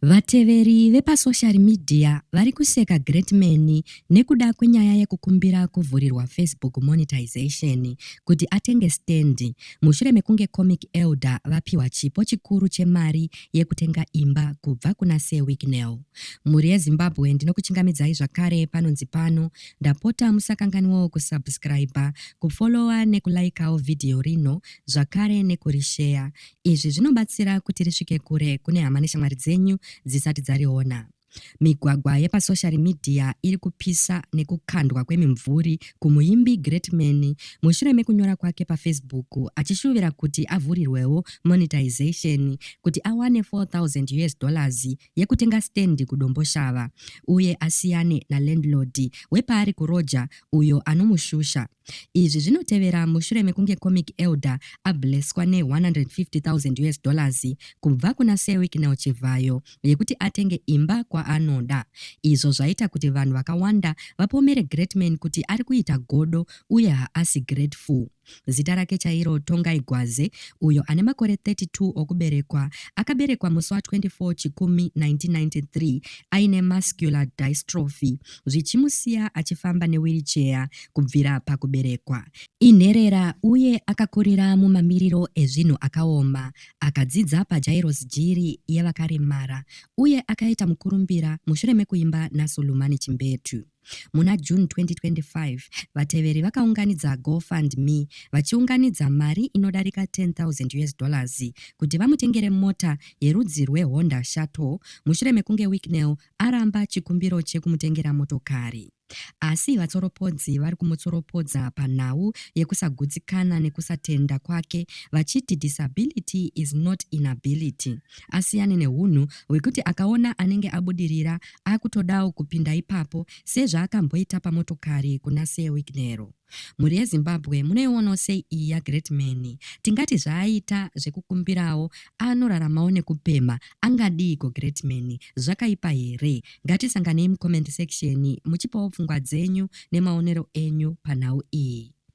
Vateveri vepasoshari midhiya vari kuseka Greatman nekuda kwenyaya yekukumbira kuvhurirwa Facebook Monetization kuti atenge stand mushure mekunge Comic Elder vapihwa chipo chikuru chemari yekutenga imba kubva kuna Sir Wicknell. Mhuri yeZimbabwe ndinokuchingamidzai zvakare panonzi pano, ndapota musakanganwawo kusubscriber, kufollower nekulaikawo video rino zvakare nekurisheya. Izvi zvinobatsira kuti risvike kure kune hama neshamwari dzenyu dzisati dzariona. Migwagwa yepasoshari midhiya iri kupisa nekukandwa kwemimvuri kumuimbi Greatman mushure mekunyora kwake paFacebook achishuvira kuti avhurirwewo monetization kuti awane 4000 US dollars yekutenga stand kuDomboshava uye asiyane nalandlord wepaari kuroja uyo anomushusha. Izvi zvinotevera mushure mekunge Comic Elder ablesswa ne 150,000 US dollars kubva kuna Sir Wicknell Chivhayo yekuti atenge imba kwaanoda, izvo zvaita kuti vanhu vakawanda vapomere Greatman kuti ari kuita godo uye haasi grateful. Zita rake chairo Tongai Gwaze, uyo ane makore 32 okuberekwa, akaberekwa musi wa 24 Chikumi 1993 aine muscular dystrophy zvichimusiya achifamba newiricheya kubvira pakuberekwa. Inherera uye akakurira mumamiriro ezvinhu akaoma. Akadzidza paJairos Jiri yevakaremara uye akaita mukurumbira mushure mekuimba naSulumani Chimbetu. Muna June 2025, vateveri vakaunganidza GoFundMe vachiunganidza mari inodarika 10,000 US dollars kuti vamutengere mota yerudzi rweHonda Shuttle mushure mekunge Wicknell aramba chikumbiro chekumutengera motokari. Asi vatsoropodzi vari kumutsoropodza panhau yekusagutsikana nekusatenda kwake vachiti disability is not inability. Asiyane nehunhu hwekuti akaona anenge abudirira akutodawo kupinda ipapo sezvaakamboita pamotokari kuna Sir Wignero. Mhuri yeZimbabwe munoiwonawo sei iyi yaGreat Man? Tingati zvaaita zvekukumbirawo anoraramawo nekupemha angadiiko Great Man? Zvakaipa here? Ngatisanganei mucomment section muchipawo pfungwa dzenyu nemaonero enyu panhau iyi.